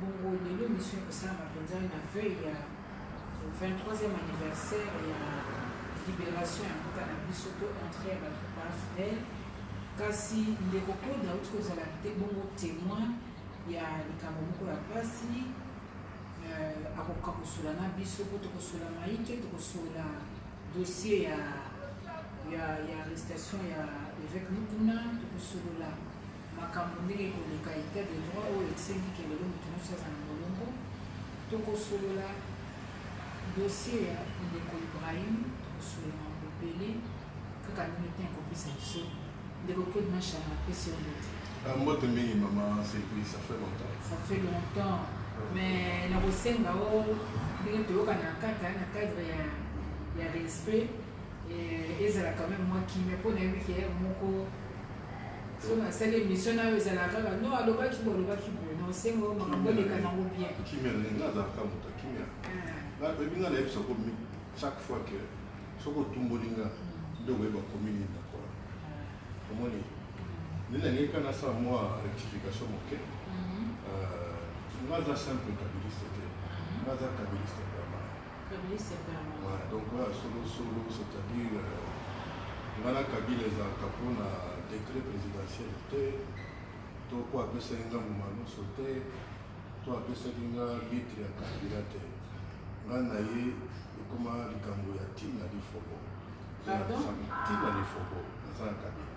Bongo lelo emission ekosalama mpenza na veuille ya 23e anniversaire ya liberation ya mboka na biso to entre ya bato ba fidèle kasi ndeko koda auti kozala te bongo témoin ya likambo moko ya mpasi euh, akokoka kosola na biso mpo tokosola maike tokosola dossier ya ya, ya arrestation ya évêque mukuna tokosolola makambo ndenge ekoleka etat de droit oyo esengi ke lelo moto nyonso aza na molongo tokosolola dossier ya ndeko ibrahim tokosolola mambo ebele kaka ndenge te ekopesa biso ndeko claude mashara apesi yo mbote ah, mbote mingi mama sepui ça fait longtemps ça fait longtemps mais nakosenga o ndenge toyokana kaka na cadre ya ya respect ezala quand même mwa kimia mpo nayebi ke heure moko so nasali émission nayo ezala kaka no alobaki bo alobaki bo na osengo makambo eleka nango bien kimia nga azalaka moto kimia nayebi nga nayebisa ko chaque fois ke soki otumboli nga nde okoyeba komi nini nakola omoni nde nalingaki ka nasala mwa rectification moke nga aza simple kabiliste te nga aza kabiliste donc oyo ya solosolo c'est-à-dire euh, ngai na kabila ezalaka mpo na décret présidentiel te to mpo apesaki nga momanoso te to apesaki nga litre ya kabila te ngai na ye ekoma likambo ya ntina lifobo ntina lifobo naza na kabila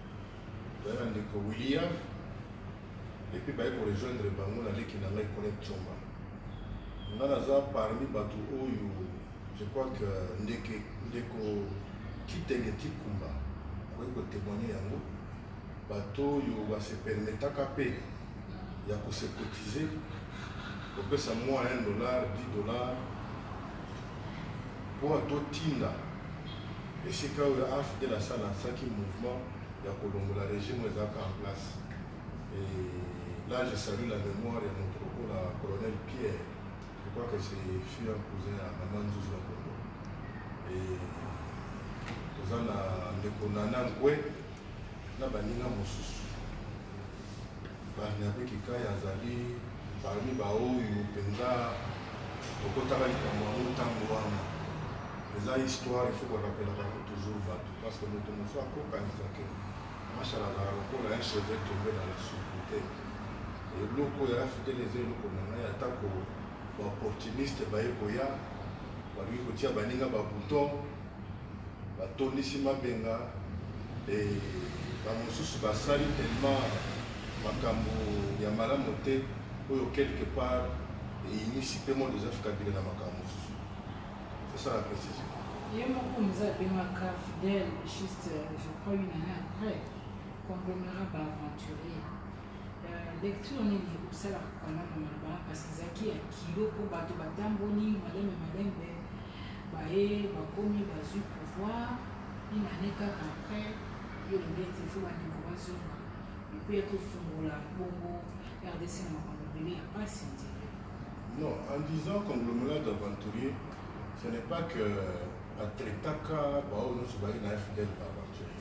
Tozali na ndeko William epuis baye ko rejoindre bango na leki na ngai Colette Chomba. Nga naza parmi bato oyo je crois que ndeke ndeko Kitenge Tikumba akoki ko temoigner yango bato oyo ba se permetaka mpe ya ko se cotiser kopesa mua 1 dollar 10 dollar mpo totinda Esika oyo AFDL asa lansaki mouvement ya kolongola regime oyo ezalaka en place. Et là, je salue la mémoire ya moto lokola colonel Pierre. Je crois que c'est fut un cousin ya maman Nzuzu ya Kongo. Et toza na ndeko Nana Nkwe na baninga mosusu. Barnabe Kikayi azali parmi baoyo mpenza tokotaka likambo yango ntango wana eza histoire il faut korapelaka yango toujours bato parce que moto mosusu akokanisa ke mashala azala lokola un cheveu tombe na la soupe te eloko ya africaine eza eloko na ngai atako baopportuniste baye koya balingi kotia baninga babouton batondisi mabenga e bamosusu basali tellement makambo ya malamu te oyo quelque part eyinisi mpe mwa joseph kabila na makambo mosusu sesa la précision ye moko moza abengaka fidèle juste euh, je crois une année après conglomérat baaventurier euh, lecture nini osalaka kama na maloba parce que ezalaki ya kilo mpo bato batamboli malembe malembe baye bakomi bazui pouvoir une annee kaka après yo lingete il faut bandeko bazonga epuis ya kofungola bongo rdc na makambo ebele ya pasi nzela Non, en disant conglomérat d'aventuriers, ce n'est pas que euh, Atretaka, Baono, Soubari, n'a fidèle d'aventurier.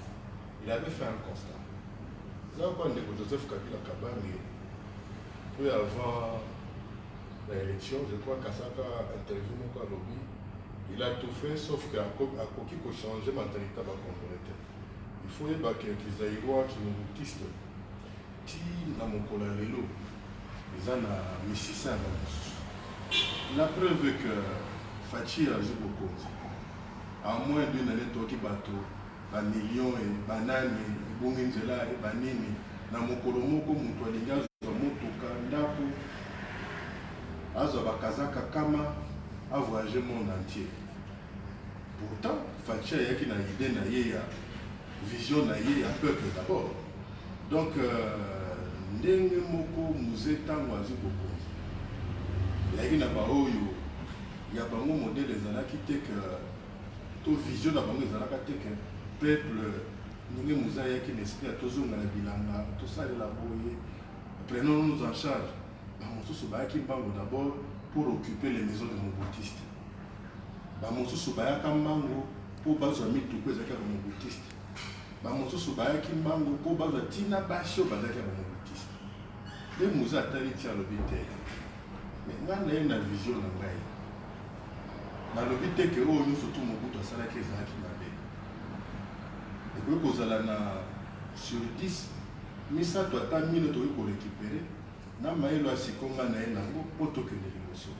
Il avait fait un constat. Là, quand on est Joseph Kabila Kabamé, peu avant na election je crois kasaka interview moko alobi il a tout fait sauf que akoki ko changer mentalite ya bacongolais te il faut yeba ke kizairois kimungutiste ti na mokolo ya lelo eza na misisa ya bamosusu la preuve que faci azwi bokonzi a moins d'une année toki bato ba millions et ba nani ebongi nzela et ba nini na mokolo moko mutu alingi azwa motuka ndaku azwa ba kazaka kama a voyage monde entier pourtant Fatshi ayaki na idée na ye ya vision na ye ya peuple d'abord donc euh, ndenge moko muze ntango azwi bokonzi eyaki na baoyo ya bango modele ezalaki te ke to vision na bango ezalaka te ke peuple ndenge moza yaki na esprit ya tozonga na bilanga tosalela boye prenons nous en charge bamosusu bayaki mbango d'abord pour occuper les maisons de mobotiste bamosusu bayaka mbango mpo bazwa mituku ezalaki ya bamobotiste bamosusu bayaki mbango mpo bazwa ntina basi oyo bazalaki ya bamobotiste nde moza atali ti alobi te me ngai naye na vision na ngai Nalobi te que oyo nionso tout Mobutu asalaki ezalaki mabe. Ekoki kozala na sur 10, misato ata mine tokoki ko recuperer na mayele oyo sikoyo ngai naye nango mpo tokende liboso.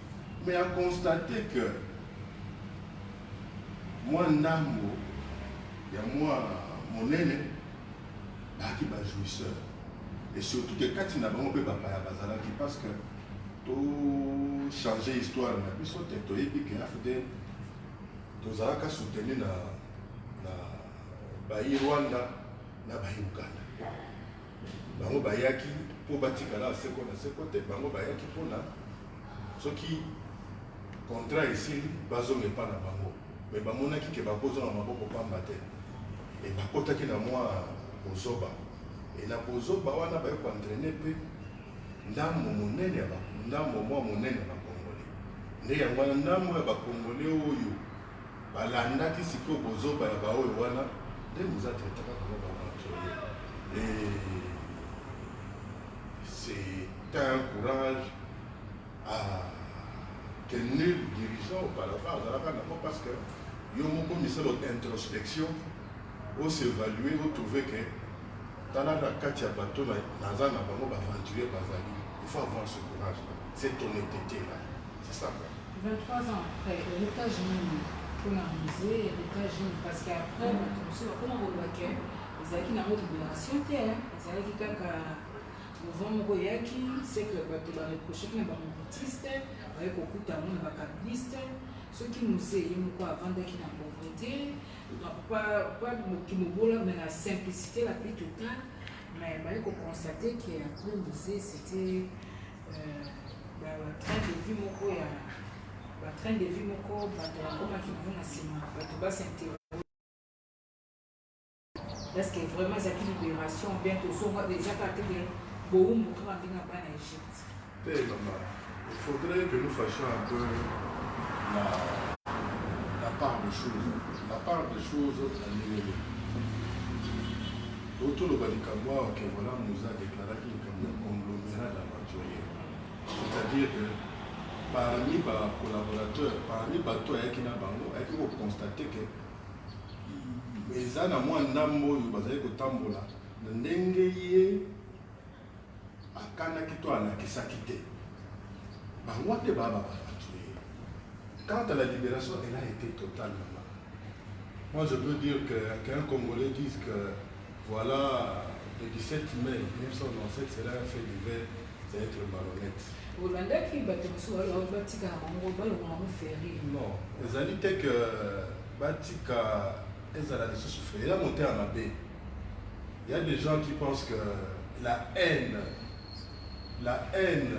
Mais a constater que mwa ndambo ya mwa monene baaki ba jouisseurs et surtout que kati na bango mpe bapaya bazalaki parce que To changer histoire na biso te toyebi ke AFDL tozalaka soutenu na na bayi Rwanda na bayi Uganda. Bango bayaki mpo batikala seko na seko te, bango bayaki mpona soki contrat esili bazonga epa na bango, me bamonaki ke bakozonga maboko pamba te, e bakotaki na mwa bozoba e na bozoba wana baye koentraine mpe ndambo monene ya ba ndambo mwa monene ya bakongole nde yango wana ndambo ya bakongole oyo balandaki sikoyo bozoba ya baoyo wana nde moza traitaka koma baaventurier et c'est un courage Ah, quel nul dirigeant auparavant azalaka nango parce que yo moko misala introspection o s'évaluer o trouver que tala na kati ya bato naza na bango baventurier bazali il faut avoir ce courage là cette honnêteté là c'est ça quoi 23 ans après héritage nini mpona musée héritage nini parce que après bato mosusu bakoma koloba ke ezalaki nango libération te ezalaki kaka Mouvement moko eyaki, c'est que bato ba reprochaki na ba mobutistes, baye kokuta yango na ba kabilistes. Soki mzee ye moko avandaki na pauvrete, donc pas pas kimobola mais na simplicité la plus totale, mais baye ko constater que après mzee c'était euh, ba ba train de vie moko ya ba train de vie moko bato bakomaki nango na nsima bato ba s'interroger Est-ce que vraiment ezalaki libération ou bien tozonga eza kaka te ke bowumbu kaka ndenge ya bana egypte te mama il faudrait que nous fashions un peu la, la part de choses la part de choses na ndenge nini otoloba likambo awa ke voilà moza deklaraki likambo ya conglomérat d'aventurier c'est-à-dire que parmi ba collaborateurs parmi bato ayaki na bango ayaki kokonstate ke eza na mwa ndambo oyo bazali kotambola na ndenge ye akanaki to alakisaki te bango te babababatue quant à la libération elle a été totalement moi je peux dire que qu'un congolais dise que Voilà le 17 mai 1997 sera un fait divers c'est être malhonnête. olandaki bato mosusu wana batikaka bango balonga bango feri Non, ezali te que batika ezala lisusu fe ya motema mabe. Il y a des gens qui pensent que la haine, la haine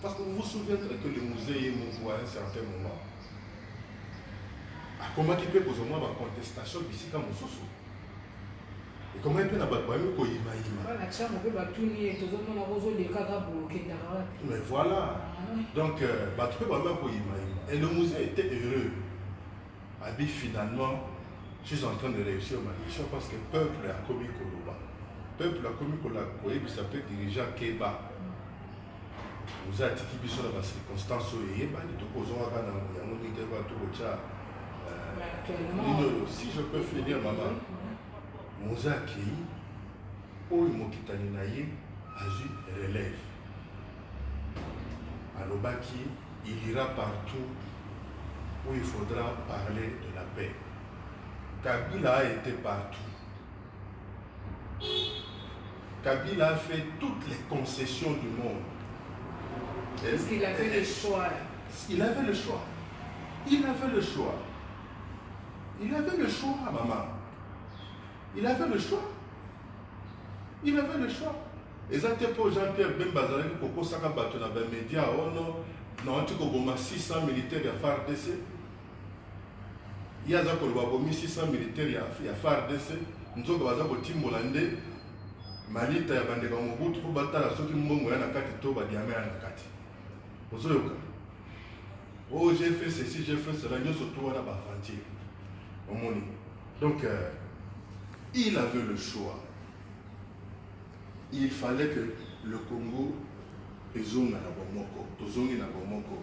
Parce que vous vous souvenez que le musée ye moko à un certain moment akomaki mpe kozwa mwa bacontestation bisika mosusu ekomaki mpe na bato bayebi koyimayima mais voilà donc bato mpe bayebi koyimayima et le musée était heureux abi finalement je suis en train de réussir ma mission parce que peuple akomi koloba peuple akomi koyebisa mpe dirigeant keba Oza atiki biso na ba circonstances oyo eyebani tokozonga kaka na yango ndenge te bato kotya nini oyo si je peux finir mama moza akei oyo mokitani na ye azwi relève alobaki il ira partout où il faudra parler de la paix kabila a été partout Kabila a fait toutes les concessions du monde. Parce qu'il avait le choix. Il avait le choix. Il avait le choix. Il avait le choix, maman. Il avait le choix. Il avait le choix. eza te mpo jean pierre bemba azalaki kokosaka bato na bamedia ono oh nauti koboma 600 militaire ya fardc Ye aza koloba abomi 600 militaire ya, ya FARDC nzoka baza kotimbola nde malita ya bandeko ya Mobutu mpo batala soki mbongo ya na kati to badiama ya na kati. Ozoyoka oh j'ai fait ceci j'ai fait cela nyonso to wana baaventure omoni donc euh, il avait le choix il fallait que le Congo ezonga na bomoko tozongi na bomoko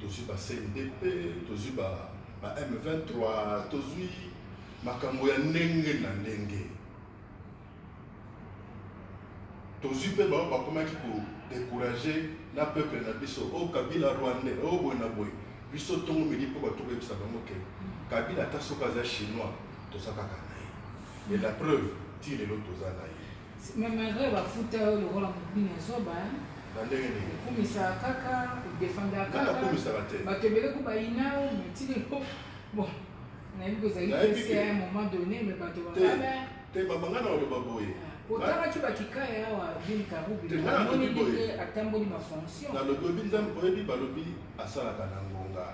tozwi ba CNDP tozwi ba ba M23 tozwi makambo ya ndenge na ndenge tozwi mpe bango bakomaki kodécourage na peuple na biso o oh, kabila rwandais o oh, boye na boye biso ntongo midi mpo bato koyebisa bango ke kabila ata soki aza chinois toza kaka na ye et la preuve ti lelo toza na ye Mais malgré ba futa yo lokola mobini ya zoba hein. Na ndenge nini? Okumisa kaka, odefenda kaka. Nana kumisa ba te. Bato ebele ko bayina yo, mais ti lelo bon. Nayebi ko ezali pesi à un moment donné, mais bato ba kala. Te mama ngana oloba boye. Ah, otalaki bakikaya awa bin karubi amoni ndenge atamboli bafonction nalobi oyebi nzambe oyebi balobi asalaka na ngonga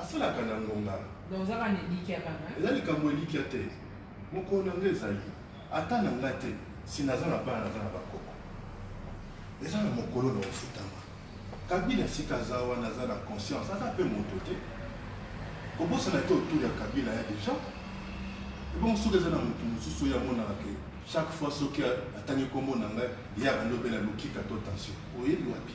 asalaka na ngonga donc ozaka na elikya kaka eza likambo elikya te Mokolo na nga ezali ata na nga te, si naza na bana naza na ba koko. Eza na mokolo na ofutama. Kabila sika aza wana aza na conscience, aza pe moto te. Kobosana te autour ya Kabila ya des gens. Ebongo soki eza na moto mosusu oyo amonaka ke chaque fois soki atangi kombo na ngai ye abandi obela lokika to tension. Oyebi wapi?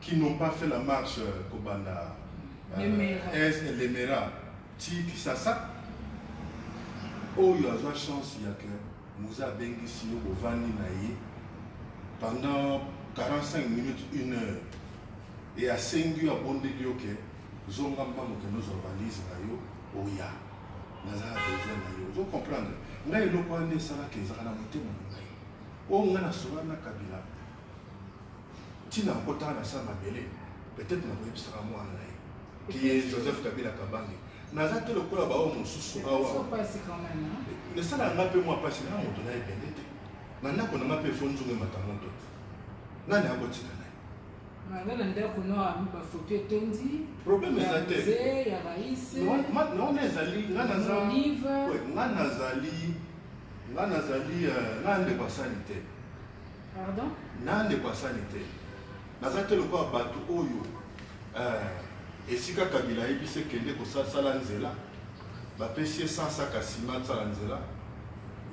qui n'ont pas fait la marche kobanda est elemera ti kisasa oyo azwa chance ya ke muza abengisi yo bovandi na ye pendant 45 minutes une heure e asengi yo abondeli yo ke zonga mbango kende ozwa valise na yo oya nazala besoin na yo ozo comprendre ngai eloko wana esalaka ezalaka na motema na ngai oyo ngai nasolana na kabila ntina ya kotala na se ya mabele peut-être nakoyebisaka mwana na ye kiye joseph kabila kabange naza te lokola baoyo mosusu awa esala nga mpe mwa mpasi na moto na ebende te na ndako na nga mpe efo nzungu emata moto te nani akotika na ye na ndako na bafoto etondi problème eza te naona ezali nga nazali nga nazali nga ndeko asali te Pardon? Na ndeko asani te. Naza te lokola bato oyo eh, esika Kabila ayebi se kende kosala nzela bapesi ye 100 saka nsima asala nzela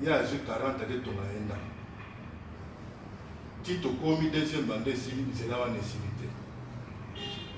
ye azwi 40 ake tonga ye ndako ti tokomi deuxième bande esili nzela wana esili te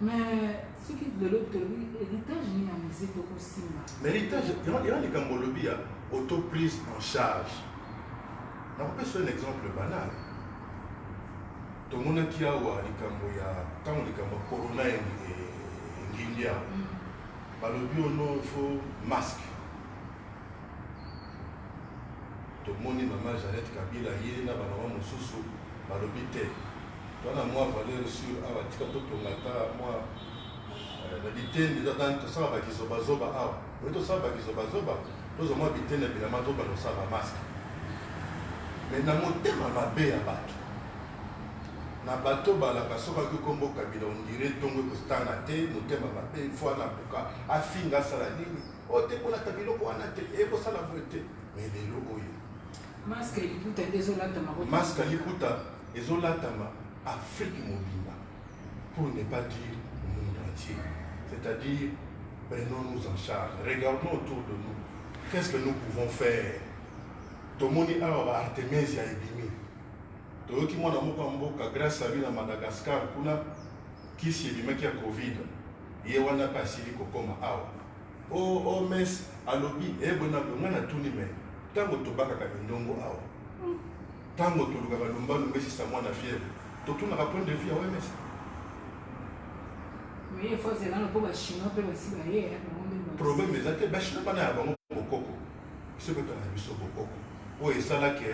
Mais soki lelo tolobi héritage nini ya musique okosimba mais héritage yana likambo olobi ya auto prise en charge nakopesa un exemple banal tomonaki awa likambo ya ntango likambo ya corona engindi awa mm. balobi ono fo masque Tomoni maman Jeannette Kabila ye na ba maman mosusu balobi te wana mwa valeur sur awa tika totonga ata mwa eh, na biteni tosala bakizobazoba awa oye tosala bakizobazoba tozwa mwa biteni ya bilama tobanda kosala bamaske me na motema mabe ya bato na bato balaka soki akoki kombo kabila ondire ntongo ekostana te motema mabe fo anabuka afinga asala nini oyo te kolata biloko wana te ekosala boye te mais lelo oyo masque ya liputa nde ezolatama masque ya liputa ezolatama afrique mobimba pour ne pas dire monde entier c'est-à-dire prenons-nous en charge regardons autour de nous qu'est-ce que nous pouvons faire tomoni awa ba artemisia ebimi toyoki mwana moko ya mboka grâce abi na madagascar kuna kisi ebimaki ya covid ye wana mpe asili kokoma awa OMS alobi ebonako ngai natuni me ntango tobakaka mindongo awa ntango tolukaka lumbalumba esisa mwana fièvre totunaka point de vue ya OMS problème eza te bachinois bana ya bango bokoko biso kotanga biso bokoko oyo esalaki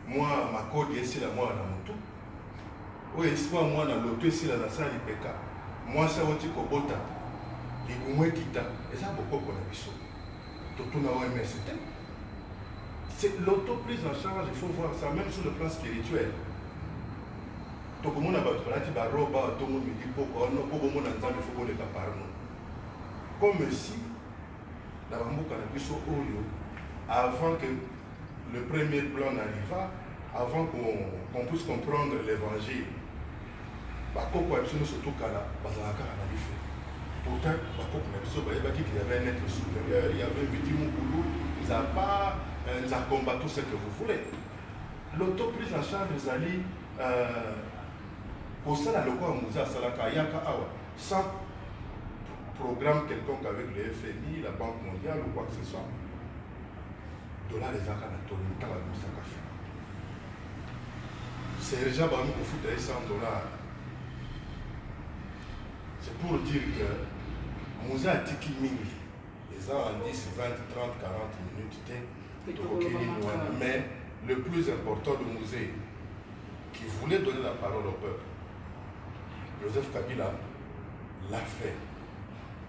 Mwa makodi esila mwana na motu oyo eswa mwana loto esila na sa lipeka mwasi awoti kobota libumu ekita eza bokoko na biso totuna oms te c'est l'auto prise en charge il faut voir ça même sur le plan spirituel tokomona bato balati baroba tongo midi poko wana po bomona nzambe fo koleka parno comme si na bamboka na biso oyo avant que Le premier plan n'arriva avant qu'on qu puisse comprendre l'évangile. Bakoko ya biso nyonso tokala bazalaka kaka na bife. Pourtant bakoko na biso bayebaki qu'il y avait un être supérieur, il y avait Viti Mukulu, Nzapa, euh, Nzakomba, tout ce que vous voulez. L'auto prise en charge ezali euh, kosala lokola mozi asalaka ayaka awa sans programme quelconque avec le FMI, la Banque mondiale ou quoi que ce soit. dollar ezalaka na toni nta babimisaka fina sergent bango kofuta ye 100 dollar c'est pour dire que moza atiki mingi eza en 10 20 30 40 minutes te tokoki nini wana mais le plus important de musée qui voulait donner la parole au peuple joseph kabila l'a fait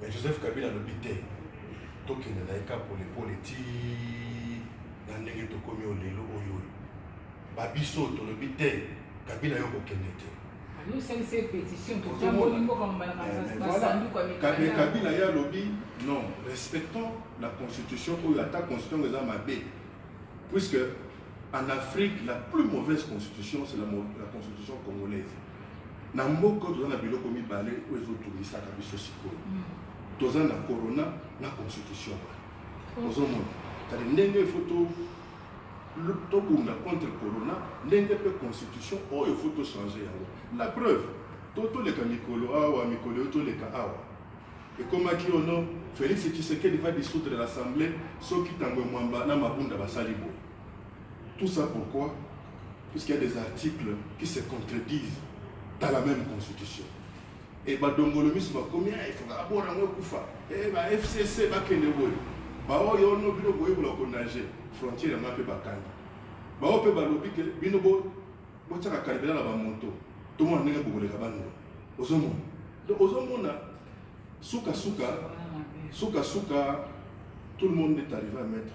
Mais Joseph Kabila alobi te tokende na ye ka polepole ti na ndenge tokomi oyo lelo oyo oyo babiso tolobi te kabila yo kokende te kabila ye alobi non respectons la constitution oyo ata constitution eza mabe puisque en afrique la plus mauvaise constitution c'est la, la constitution congolaise na mboka toza na biloko mibale oyo ezotungisaka biso sikoyo hmm. toza na corona na constitution oh. ozomona tali ndenge efo tobunda contre corona ndenge mpe constitution oyo efo tochange yango la preuve to toleka mikolo awa mikolo oyo toleka awa ekomaki ono félix tshisekedi va dissoudre l'assemblée soki ntango emwamba na mabunda basali boye Tout ça pourquoi Puisqu'il y a des articles qui se contredisent dans la même constitution. Et badongolo misu bakomi ah, il faut abora ngo kufa. Eh ba FCC bakende boye. Baoyo ono bino koyekola konager frontière yango mpe bakangi bango mpe balobi ke bino botyaka kalibela na bamoto tomona ndenge bokoleka bango ozomona donc ozomona sukasuka sukasuka tout le monde est arrivé à mettre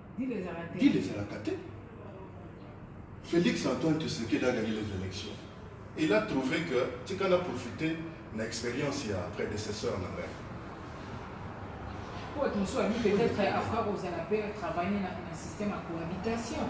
Dil ezalaka te. Félix Antoine Tshisekedi a gagné les élections. Il a trouvé que tika na profiter na expérience ya prédécesseur na ngai. Pote mosusu abi peut-être après kozala mpe travailler na système ya cohabitation.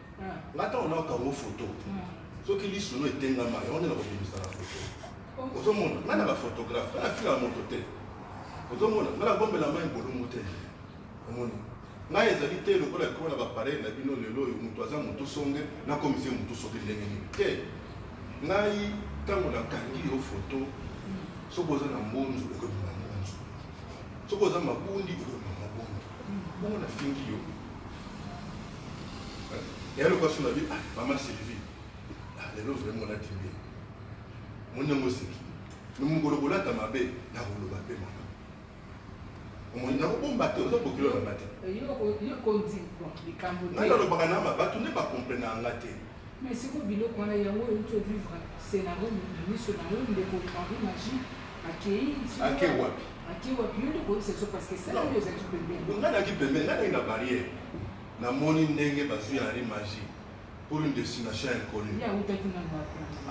nga ntango nayoka yango foto soki lisu no etengama yango nde nakobimisa na foto ozomona nga na bafotografe nga nafingaka moto te ozomona nga nabombela mai bolongo te omoni ngai ezali te lokola ekoma na bapareil na bino lelo oyo moto aza motu songe nakomisi ye motu soki ndenge nini te ngai ntango nakangi yo foto soki oza na mbonzu ekobima mbonzu soki oza mabundi ekobima mabundi Bongo na fingi yo. Et alors, parce qu'on a dit, ah, maman Sylvie, ah, les gens vraiment la tribu. Mon nom aussi. Nous nous voulons la tamabé, la roulo babé, maman. omoni nakobomba te oza kokilo na nga te nalobaka na ma bato nde bakomprena yanga te Mais siko biloko wana yango oyo to vivre scenario na miso na yo ndeko Henri Magie akei ake wapi ake wapi yo nde koyebisa biso parce que sala oyo ezalaki pembeni ngai nayaki pembeni ngai nayaki na barrière namoni ndenge bazwi ya Henri Magie pour une destination inconnue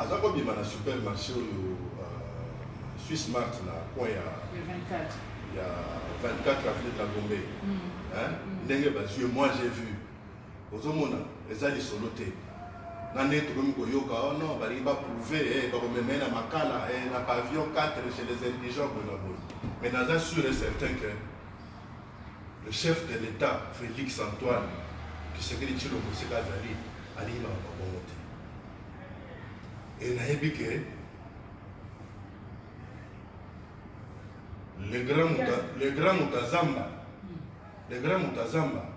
aza kobima na supermarché oyo euh, suisse mart na coin ya ya 24 avenue de la gombe hmm. Hmm. ndenge bazwi moi j'ai vu ozomona eza lisolo te na nde tokomi koyoka oh non balingi baprouve eh, bakomema ye na makala eh, na pavillon 4 chez les indigents boye na boye mais naza sûr et certain que le chef de l'état félix antoine kisekeli tshilombo esika azali alingi makambo bongo te e nayebi ke le grand mutazamba le grand mutazamba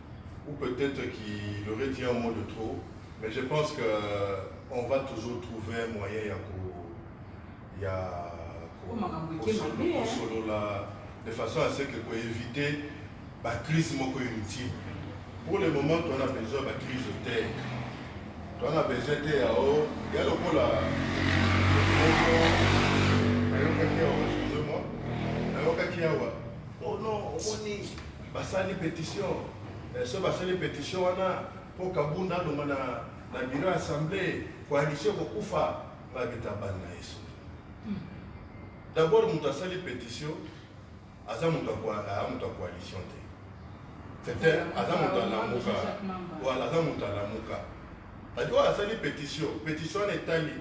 ou peut-être qu'il aurait dit un mot de trop, mais je pense que euh, on va toujours trouver un moyen ya ko ya ko- Koma makambo eke kosolo- mabe, hein. kosolola de façon à ce que ko éviter ba crise moko inutile. Pour le moment, tu en as besoin ba crise de terre. Tu en as besoin de terre. Oh, il y a le coup là. Ayokaki awa, excusez-moi. Ayokaki awa. Oh non, omoni Basali petition eh, so basali petition wana mpo Kabunda alonga na na biro ya assemblee coalition kokufa babeta bani na yesu hmm. d'abord moto asali petition aza moto ya coalition te tete aza moto alamuka wala aza moto alamuka adi oyo asali petition petition wana etali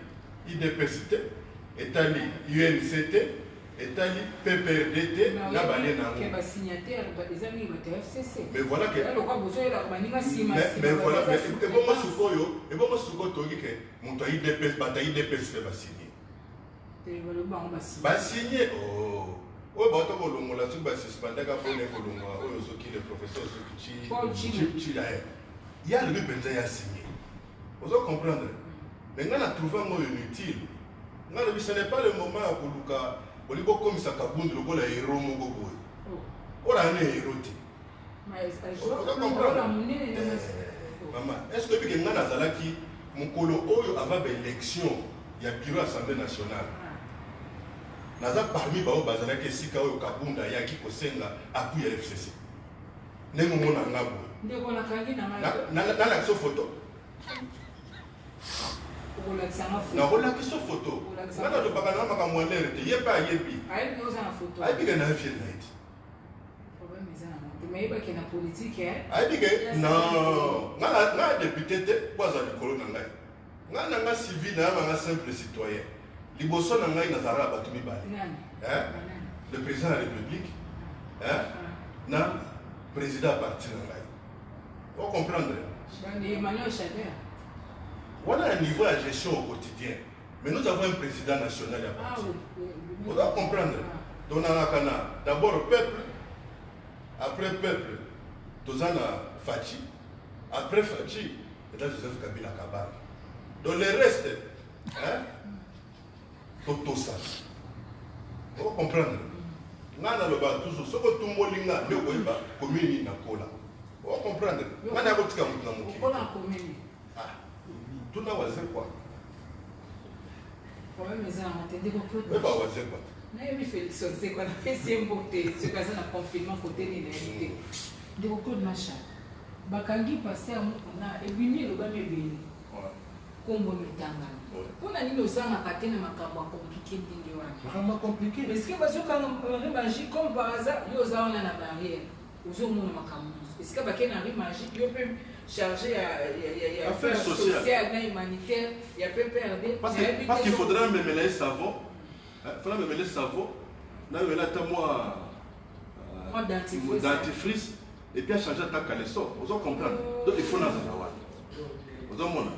idps te etali unc te etali PPRD te na bane na yango. Ba signataires ba eza mingi bato ya FCC. Mais voilà que alors quoi bozo yela ko baninga sima sima. Mais voilà mais ebongo sukoyo ebongo sukoyo toki ke moto ayi DPS bata yi DPS pe ba signé. Te balo bango ba signé. Ba signé oh. oyo bato kolongola soki basuspendaka mpona ekolongola oyo soki le professeur soki cilaye ye alobi mpenza ya signe ozo comprendre me ngai na trouve yango oyo inutile Nga lobi ce n'est pas le moment ya koluka olingi okomisa kabund lokola hero moko boye oh. oyo ayana hero te mama est ce que oyebike ngai nazalaki mokolo oyo ava baélection ya bureau assemblée nationale ah. naza parmi baoyo bazalaki esika oyo kabund ayaki kosenga apui ya fcc ndenge omona nga boye nalakisa foto nakolakisa foto nga nalobaka na makambo ya lere te ye mpe ayebi ayebi ke naye fie naye te ayebi ke nga depute te mpo aza likolo na ngai nga na nga civil nayaba nga simple citoyen liboso na ngai nazalaka na bato mibale le président ya république na président ya parti na ngai o comprendre wana ya niveau ya gestion au quotidien mais nous avons un président national ya ah parti oza comprendre ah. tonangaka na d'abord peuple après peuple toza na faci après faci eza joseph kabila kabala donc le reste hein? totosa oko comprendre nga naloba toujours soki otumboli nga nde okoyeba commune nini nakola oko comprendre nga na yakotika motu na mokili ah, tuna wazekwa oyeba wazekwa nayebi felix wazekwa napesi ye mbote soki aza na confinement kote nini na yebi te ndeko claude macha bakangi paster mokuna ebimi elobami ebele Kombo no etangami. Mpo na nini ozangaka te na makambo ya compliquer ndenge wana? Makambo ya compliquer? Est-ce que bazokanga Henri Magie comme par hasard yo oza wana na barrière ozomona makambo nyonso? Est-ce que bakei na Henri Magie yo mpe chargé ya ya affaire sociale na humanitaire ya PPRD? Parce que parce qu'il faudrait memela ye savon, hein, faudrait memela savon na yo ela ata mwa euh, dentifrice Et puis a changer ta caleçon, ozo comprendre? Donc il faut na zala wapi? Ozo mona?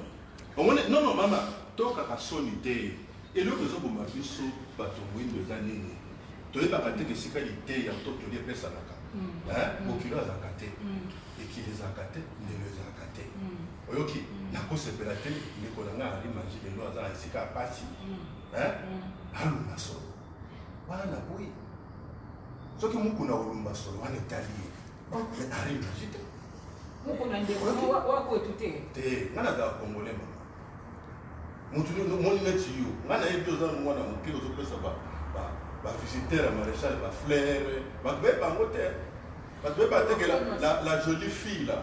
Omone non non mama, toka ka soni te. Eloko ezo boma biso bato mwindo eza nini? Toyebaka te esika liteya to toli epesanaka. Mm. Hein? Mm. Bokilo azalaka te. Mm. Ekili ezalaka te, ndelo ezalaka te. Oyoki? Nakosepela te ndeko na ngai ali manji lelo aza na esika ya pasi. Hein? Alonga solo. Wana na boyi. soki mukuna olumba solo wana etali ye mais arime naji te mukuna ndeko wakwetu te te nga nazala congolais mama mutu moni neti yo nga nayebi oza mwana moke ozopesa bavisiteur ya maréchal baflere bato baye bango te bato baye batekela la jolie fille la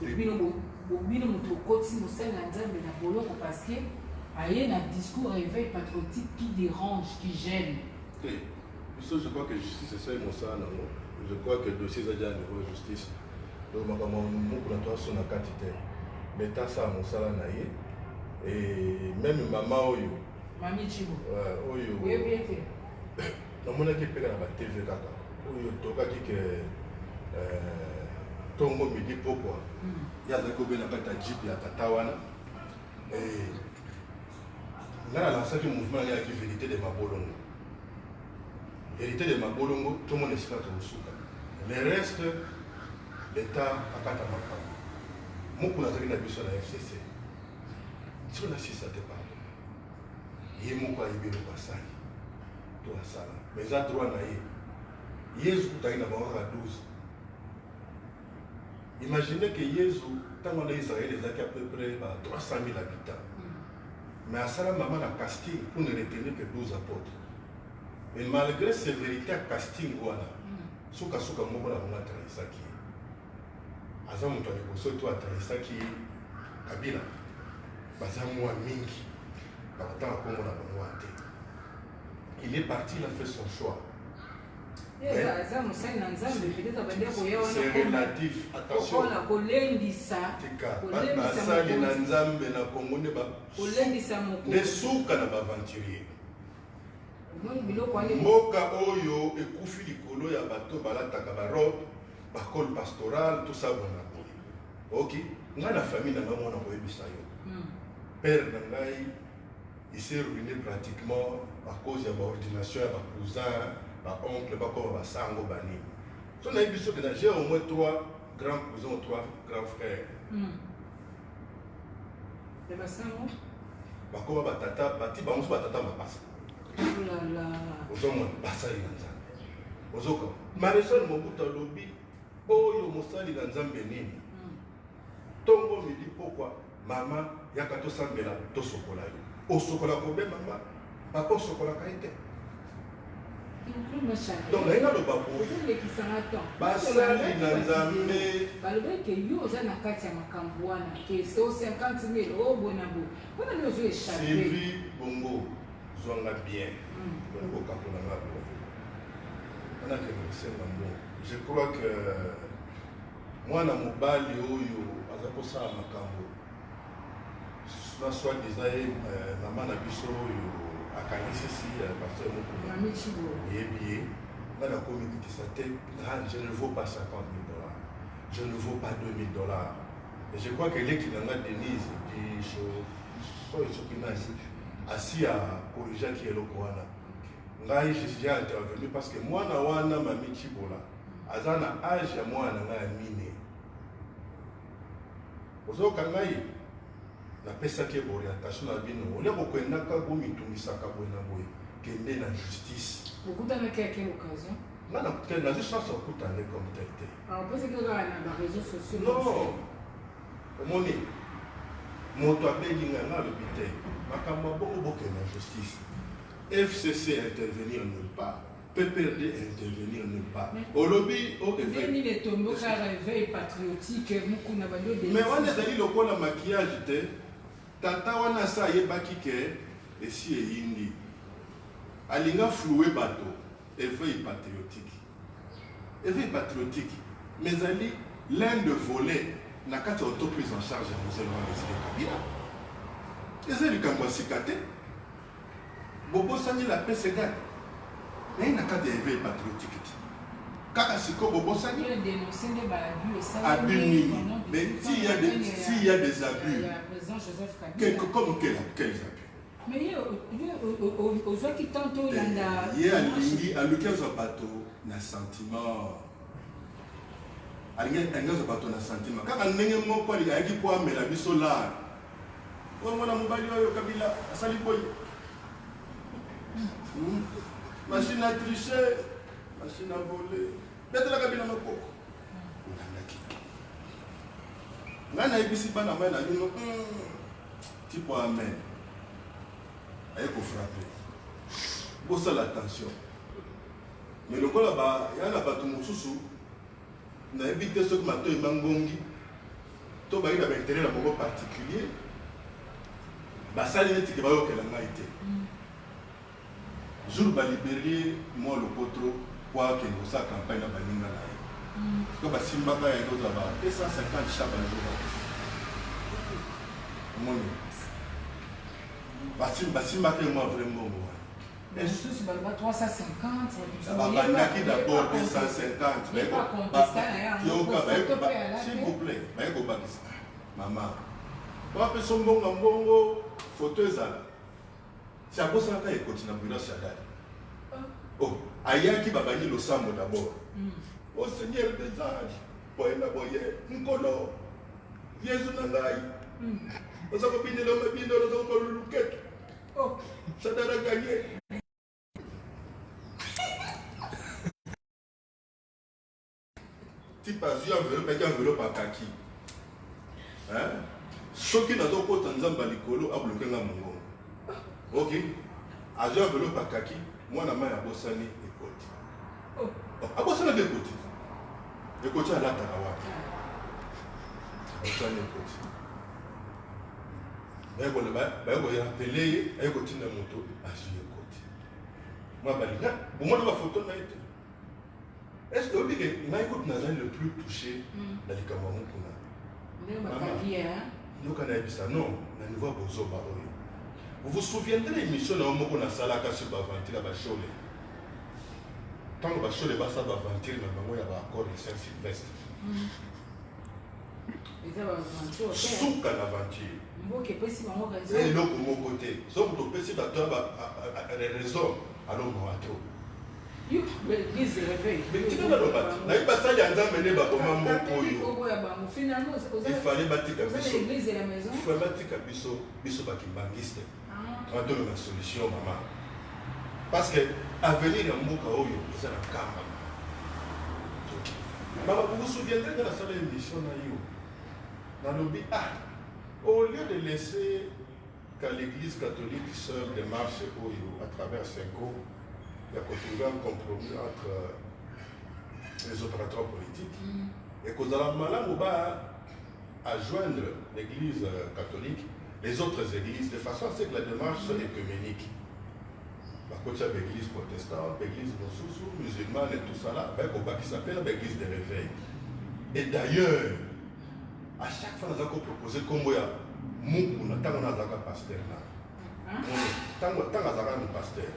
Bino moto okotisi mosali na Nzambe na boloko parce que aye na discours réveil patriotique qui dérange, qui gêne. Te. Biso je crois que justice esali mosala nango. Je crois que dossier eza déjà niveau justice. Donc makambo moko na toi sona kati te. Mais ta sa mosala na ye et même maman oyo. Mami Chibo. Euh, oyo. Oyebi ete. namonaki epeka na ba tv kaka oyo tokaki ke euh, tongo midi pokwa hmm. ye azalaki kobela kati ya jipe ya tata wana eh, ngai nalansaki mouvement yange yaki verité de mabolongo verité de mabolongo tomona esika tokosuka le reste leta akata makambo mokuna azalaki na biso na fcc siko na sisa te pardon ye moko ayebi eloko asali to asala mais eza droit na ye yezu kutaki na bango kaka 12 imagine ke yezu ntango wana israel ezalaki à peu près ba 300 000 habitants mais asala mama na casting pour ne retenir que 12 apôtres mais malgré sévérité ya casting wana sukasuka moko na bango atrahisaki ye aza moto ya liboso to atalisaki kabila baza mwa mingi bakotanga kongo na bango wana te il est parti il a fait son choix aza mosali na nzambe peut-être abandi akoya wana kolendisa basali na nzambe na kongo nde suka na baaventurier mboka oyo ekufi likolo ya bato balataka barobe bacole pastoral tosabwana boye ok ngai na famille na ngai mwana koyebisa yo hmm. père na ngai ese ruine pratiquement à cause ya baordination ya bacousin baoncle bakoma basango banini so nayebi soki na j'ai au moins trois grands cousins ou trois grands frères hmm. Ya basango. Bakoma batata, bati bango so batata mapasa. Olala. Oh Ozomona basali na Nzambe. Ozoka. Marisol Mobutu alobi oyo mosali na Nzambe nini? Hmm. Tongo midi pokwa mama yaka tosambela tosokola yo. Osokola kobe mama bakosokolaka ye te donc naye naloba boyelekisanga temps basali na nzambe balobaki ke yo oza na kati ya makambo wana ke so 50 mil o boye na boye mpona nde ozo echappe sylvi bongo zwanga bien hmm. mpona kokakola nga bo wana ke kosenga mbo je crois que mwana mobali oyo aza kosala makambo na soit disant ye euh, mama na biso oyo akanisisi euh, pasteur mokuna oyebi ye nga nakomi kitisa te je ne vaux pas 50 000 dollars je ne vaux pas 2000 dollars et je crois que leki na nga denise soki soki nasi asi akorrigeaki eloko wana ngai j'ai intervenu parce que mwana wana mami cibola aza na age ya mwana na ngai ya mine Ozoka ngai napesaki ye orientation na bino olia kokendaka bomitungisaka boye na boye kende na justice bokutanaki ya quelle occasion nga nakuta nazo chance ya kokuta nde comme tel te ah, opesaki kaka na bareseau sociaux non omoni moto abengi nga nga alobi te makambo ya bongo bokende na justice fcc intervenir nulle part PPRD intervenir nulle part. Olobi o éveil. Mais wana ezali lokola maquillage te. Tata wana sa ayebaki ke esi eyindi. Alinga flouer bato éveil patriotique. Éveil patriotique mais ezali l'un de volet na kati ya auto prise en charge ya mosali wana ezali kabila. Ezali likambo ya sika te. Bobosani la paix c'est gag. Mais na kati ya éveil patriotique ti. Kaka siko bobosani. Yo dénoncer nde ba abus ça. Abus nini? Mais si ya des si ya des abus. Président Joseph Kabila. Quelque comme quel quel abus? Mais yo yo ozwaki temps to yanda. Ye alingi aluki azwa bato na sentiment. Alingi alingi azwa bato na sentiment. Kaka ndenge moko ayaki po amela biso lard. Oyo mwana mobali oyo Kabila asali boye. Hmm. Machine à tricher, machine à voler. Betela Kabila maboko. Olandaki. Ngai nayebisi bana mai na bino hmm. tipo amen. Aye kofrape. Bosala attention. Mais lokola ba yana bato mosusu Nayebi te soki matoyi mangongi to bayi na baintere na bango particulier basali neti ke bayokela ngai te mm. jour baliberie mwa lokotro po akende kosala campagne na baninga na ye mm. to basimbaka ya ekozwa ba 250 cha bajour omoni basimbaka ye mwa vrai mbongo wana Basusu baloba 350. Babandaki d'abord 250. Baye koyoka, baye kobakisa. S'il vous plaît, baye kobakisa. Mama, wapi so mbonga mbongo, foto ezala. Si abosanaka ekoti na bureau ya dada. Ah. Oh, ayaki babandi losambo d'abord. Mm. Au oh, Seigneur des anges, boye na boye, nkolo, Yesu na ngai. Mm. Oza kobinela mabindelo, oza kobaluluketu. Oh, Shadara gagné. type azwi enveloppe eki enveloppe akaki soki nazokota nzambe ya likolo abloke nga mongongo ok azwi enveloppe akaki mwana mai abosani ekoti oh. oh, abosani nde ekoti ekoti alataka wapi abosani ekoti baye ko ba baye ko rappeler ye aye ko tinda moto azui ye kote mwa balinga bomona ba photo na ye te est ce que oyebi ke ngai kutu nazali le plus touché hmm. na likambo yango kuna yoka nayebisa non na niveau ya bozoba oyo vous vous souviendrez émission na yo moko nasalaka sur baventure ya bashole ntango bashole basala baventure na bango ya baaccord ya saint sylvestre hmm. suka na aventure eza eloko moko te soki topesi bato ya raison alongoa to tika naloba te nayebi basali ya nzambe nde baboma moko oyo ifale batika biso batika biso biso bakibangiste wana toluka solution mama parce que avenir ya mboka oyo eza na kamba mama bokosouviendrai nga nasala émission na yo nalobi ah au lieu de laisser qu'à l'église catholique seule démarche oyo à travers cinco ya kotrouver un compromis entre euh, les opérateurs politiques mm. ekozala malamu ba à joindre l'église euh, catholique, les autres églises, de façon à ce que la démarche soit écuménique. bakotya baeglise protestant baeglise mosusu musulmane et tout ça là baye kobakisa mpe na baeglise de réveil et d'ailleurs à chaque fois naza kopropose nkombo ya mukuna ntango nazalaka paster na ntango azalaka na paster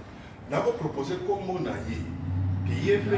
nakopropose nkombo na ye ke ye mpe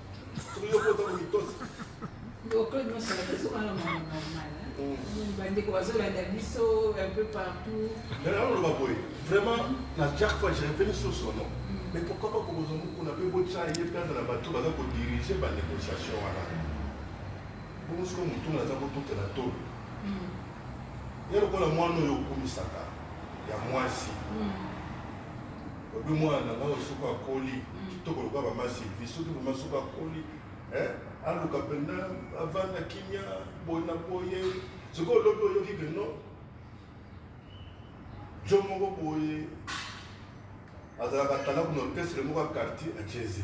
bandeko bazolanda biso un peu partout naloba boye vraiment na chaque fois je revenu sur son nom mm. mais pourquoi pas kokozwa mokuna mpe botya ye mpe azala bato baza kodirige banégociation wana bongo sikoyo motuna aza kotutela tolo mm. ye lokola mwana oyo okumisaka ya mwasi mm. Obi mwana na ngai soki akoli mm. kitoko lokola mama Sylvie soki vraiment soki akoli eh, aluka mpenza avanda kimia boye na boye soki olobi oyoki ke no jo moko boye azalaka tala kuna orchestre moko ya quartier acheze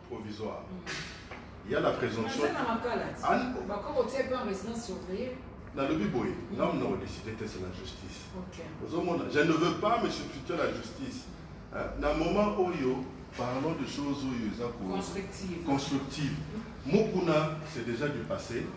provisoire ya na présomption nalobi boye ngai mna kodeside te c'est la justice ozomona je ne veux pas me substituer la justice na moment oyo parlons de choses oyo eza constructive mokuna c'est déjà du passé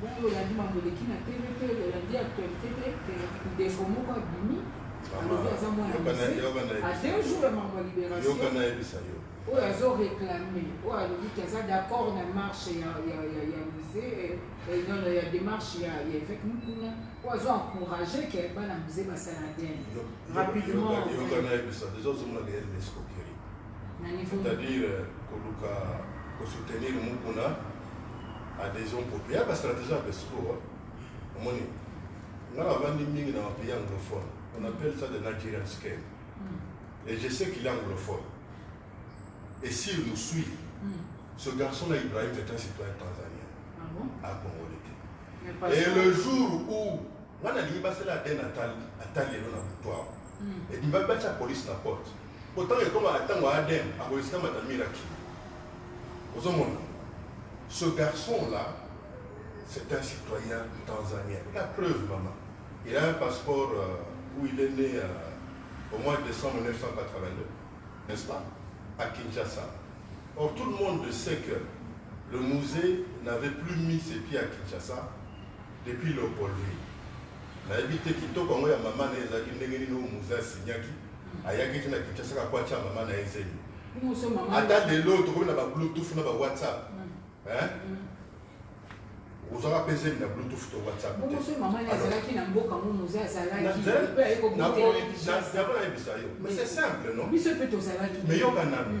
Bongo olandi mambo eleki na TV te, olandi actualité te, te ndeko moko abimi alobi aza mwana a deux jours ya mambo ya libération oyo azo réclame oyo alobi ke aza d'accord na marche ya musée non ya démarche ya évêque mukuna oyo azo encourage ke bana musée basala adn rapidement na niveau c'est-à-dire koluka kosoutenir mukuna adhesion populaire ya ba stratégie ya Besuko hein. omoni nga navandi mingi na bapays anglophone on appelle ça de nigerian scam mm. et je sais qu'il est anglophone et s'il nous suit mm. ce garçon là ibrahim c'est un citoyen tanzanien ah bon? à ah, congolais et le jour où nga nalingi basala ade atali lelo na butu awa ebimbaki batya polise na porte Bo tango ekoma na tango ya Adem akoki sika mata mira kilo. Ozo mona? Ce garçon là c'est un citoyen tanzanien. La preuve maman, il a un passeport euh, où il est né euh, au mois de décembre 1982, n'est-ce pas? À Kinshasa. Or tout le monde sait que le musée n'avait plus mis ses pieds à Kinshasa depuis Léopoldville. nayebi te kitoko yango ya mama na ye ezalaki ndenge nini oyo muze asinyaki ayaki te na kinshasa kako atya mama na ye zemi ata lelo tokomi na ba bluetooth na ba whatsapp ozwaka mpe zemi na bluetooth to whatsapp tezalaki nayebisa yo mais c'est simple non mais yoka nanu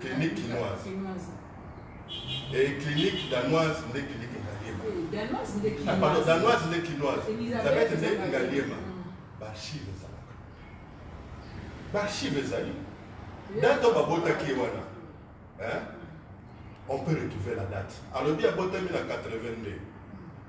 clinique kinoise et clinique danoise nde clinique ngaliema ah, pardon danoise nde kinoise elizabeth nde ngaliema baarchive ezalaka baarchive ezali date oyo babotaki ye wana on peut retrouver la date alobi abotami na 82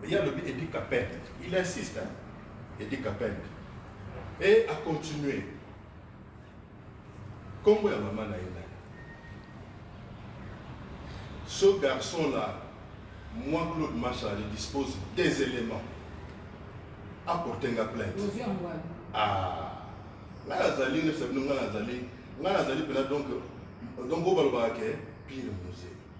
Mais ya lobi Eddie Kapend, il insiste hein. Eddie Kapend. Et a continuer. Kombo ya maman na ye nani? Ce garçon là, moi Claude Machar, je dispose des éléments. Apporter nga plainte. Ah. Là azali ne sabino nga azali. Nga azali pena donc donc obalobaka ke pire musée.